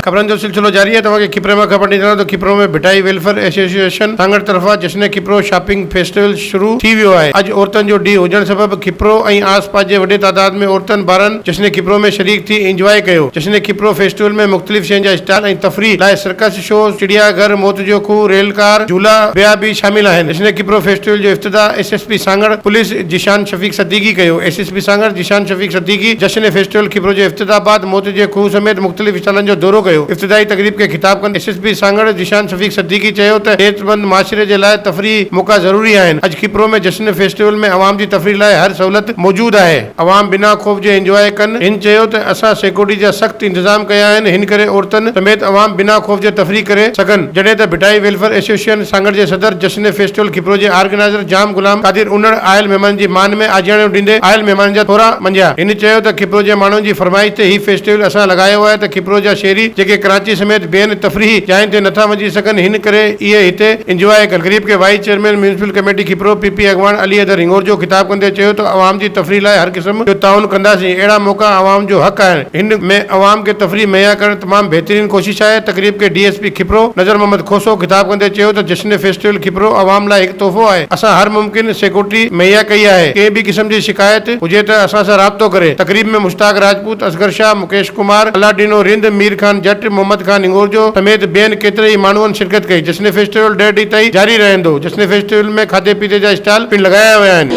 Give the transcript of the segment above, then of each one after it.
خبرن جو سلسلو جاري آهي توهان کي کپري مان خبر ڏئي ڇڏيان ته کپرو ۾ ڀٽائي ويلفيئر ايسوسيئيشن سانگهڙ طرفان جشن کپرو شاپنگ فيسٽيول شروع ٿي ويو آهي اڄ عورتن جو ڏينهن هجڻ سبب کپرو ۽ آس پاس جي وڏي تعداد ۾ عورتن ٻارن جشن کپرو ۾ شريڪ ٿي انجواء ڪيو جشن کپرو فيسٽيول ۾ مختلف شين جا اسٽال ۽ تفريح لاء سرڪس شو، چڙيا گهر، موت جو کوهه، ريل ڪار، جهولا ٻيا به شامل آهن. اسنيڪ ڪپرو فيسٽيول جو افتتاح S S P Sanghar police Zeeshan Shafiq Siddiqui ڪيو S S P Sanghar Zeeshan Shafiq Siddiqui جشن فيسٽيول ڪپرو جي افتتاح بعد موت جي کوهه سميت مختلف اسٽالن جو دورو ڪيو افتتاحي تقريب کي خطاب ڪندي S S P Sanghar Zeeshan Shafiq Siddiqui چيو ته صحتمند معاشري جي لاء تفريحي موقعا ضروري آهن اڄ ڪپرو ۾ جشن فيسٽيول ۾ عوام جي تفريح لاء هر سهولت موجود آهي. عوام بنا خوف جي انجواء ڪن. هن چيو ته اسان سيڪيورٽي جا سخت انتظام ڪيا آهن، هن ڪري عورتن سميت عوام بنا خوف جي تفريح ڪري سگهن، جڏهن ته ڀٽائي ويلفيئر ايسوسيئن سانگهڙ جي صدر جشن فيسٽيول کپرو جي آرگنائيزر جام غلام قادر انڙ آيل مهمانن جي مان ۾ آجياڻيون ڏيندي آيل مهمانن جا ٿورا مڃيا. هن چيو ته کپرو جي ماڻهن جي فرمائش تي هي فيسٽيول اسان لڳايو آهي ته کپرو جا شهري جيڪي ڪراچي سميت ٻين تفريحي جاين تي نٿا وڃي سگهن هن ڪري اهي هتي انجواء ڪن. غريب کي vice chairman municipal committee Khipro P P اڳواڻ علي حيدر هنڱورجو خطاب ڪندي چيو ته عوام جي تفريح لاء هر قسم جو تعاون ڪنداسين اهڙا موقعا عوام جو حق آهن هن ۾ عوام کي تفريح مهيا ڪرڻ تمام بهترين ڪوشش آهي تقريب کي D S P Khipro Nazar Muhammad Khoso خطاب ڪندي چيو ته جشن فيسٽيول کيپرو عوام لاء هڪ تحفو آهي اسان هر ممڪن سيڪورٽي مهيا ڪئي آهي ڪنهن به قسم جي شڪايت هجي ته اسان سان رابطو ڪري تقريب ۾ مشتاق راجپوت اصغر شاهه مڪيش ڪمار، الاڊينو رند، مير خان جٽ، محمد خان هنڱورجو سميت ٻين ڪيتري ئي ماڻهن شرڪت ڪئي. جشن فيسٽيول ڏهه ڏينهن تائين جاري رهندو. جشن فيسٽيول ۾ کاڌي پيتي جا اسٽال پڻ لڳايا ويا آهن.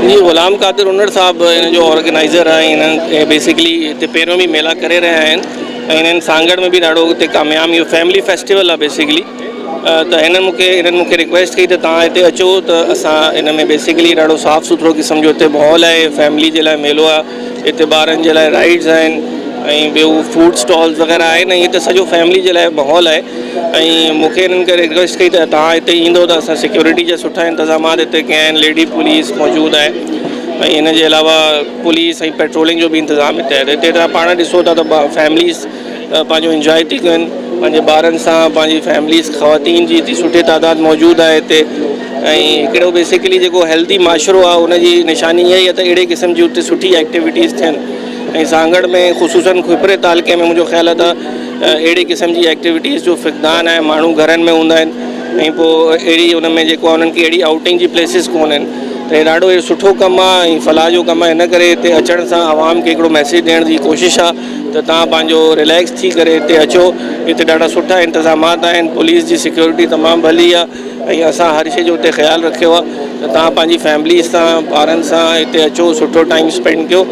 جي غلام قادر هنڙ صاحب هن جو آرگنائيزر آهي ۽ هن بيسڪلي هتي پهريون به ميلا ڪري رهيا آهن ۽ هنن سانگهڙ ۾ به ڏاڍو هتي ڪاميام اهو فيملي فيسٽيول آهي بيسڪلي ته هنن مون کي هنن مون کي رڪويسٽ ڪئي ته تهان هتي اچو ته اسان هن ۾ بيسڪلي ڏاڍو صاف سٿرو قسم جو هتي ماحول آهي فيملي جي لاء ميلو آهي هتي ٻارن جي لاء رائيڊز آهن ۽ ٻيو فوڊ اسٽالز وغيره آهن ۽ هتي سڄو فيملي جي لاء ماحول آهي ۽ مون کي هنن کي رڪويسٽ ڪئي ته تهان هتي ايندو ته اسان سيڪيورٽي جا سٺا انتظامات هتي ڪيا آهن ليڊي پوليس موجود آهي ۽ هن جي علاوه پوليس ۽ پيٽرولنگ جو بي انتظام هتي آهي هتي تهان پاڻ ڏسو ٿا ته فيمليز پنهنجو انجوائي ٿي ڪن پنهنجي ٻارن سان پنهنجي فيمليز خواتين جي ايتري سٺي تعداد موجود آهي هتي ۽ هڪڙو بيسڪلي جيڪو هيلٿي معاشرو آهي ان جي نشاني اها ئي آهي ته اهڙي قسم جي هتي سٺي ايڪٽيوٽيز ٿين ۽ سانگهڙ ۾ خصوصن کپري تعلقي ۾ منهنجو خيال آهي ته اهڙي قسم جي ايڪٽيوٽيز جو فقدان آهي ماڻهو گهرن ۾ هوندا آهن ۽ پوء اهڙي ان ۾ جيڪو انهن کي اهڙي آئوٽنگ جي پليسز ڪون آهن ته هي ڏاڍو سٺو ڪم آهي ۽ فلاح جو ڪم آهي ان ڪري هتي اچڻ سان عوام کي هڪڙو ميسيج ڏيڻ جي ڪوشش آهي ته توهان پنهنجو ريليڪس ٿي ڪري هتي اچو هتي ڏاڍا سٺا انتظامات آهن پوليس جي سيڪيورٽي تمام ڀلي آهي ۽ اسان هر شي جو هتي خيال رکيو آهي ته توهان پنهنجي فيمليز سان ٻارن سان هتي اچو سٺو ٽائيم اسپينڊ ڪيو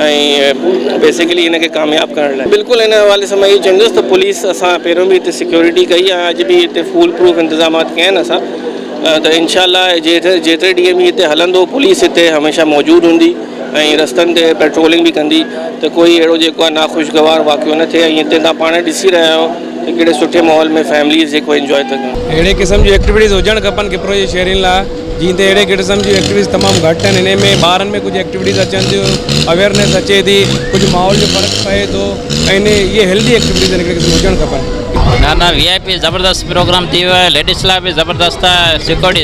۽ بيسيڪلي ان کي ڪامياب ڪرڻ لاء بلڪل ان حوالي سان مان اهو چوندس ته پوليس اسان پهريون به هتي سيڪيورٽي ڪئي آهي اڄ به هتي فول پروف انتظامات ڪيا آهن اسان ته انشاء الله جيتري ڏينهن به هتي هلندو پوليس هتي هميشه موجود هوندي ۽ رستن تي پيٽرولنگ به ڪندي ته ڪوئي اهڙو جيڪو آهي ناخوشگوار واقعو نه ٿئي ۽ هتي تهان پاڻ ڏسي رهيا آهيو ته ڪهڙي سٺي ماحول ۾ فيمليز جيڪو انجوائي ٿيون ڪن. اهڙي قسم جون ايڪٽيوٽيز هجڻ کپن ڪپرو جي شهرين لا جئين تي اهڙي قسم جون ايڪٽيوٽيز تمام گهٽ آهن انهي ۾ ٻارن ۾ ڪجهه ايڪٽيوٽيز اچن ٿيون اويرنيس اچي ٿي ڪجهه ماحول جو فرق پئي ٿو ۽ اهي هيلڌي ايڪٽيوٽيز آهن هڪڙي قسم هجڻ کپن. نا نا وي آء پي زبردست پروگرام ٿي ويو آهي ليڊيس لاء به زبردست آهي سيڪورٽي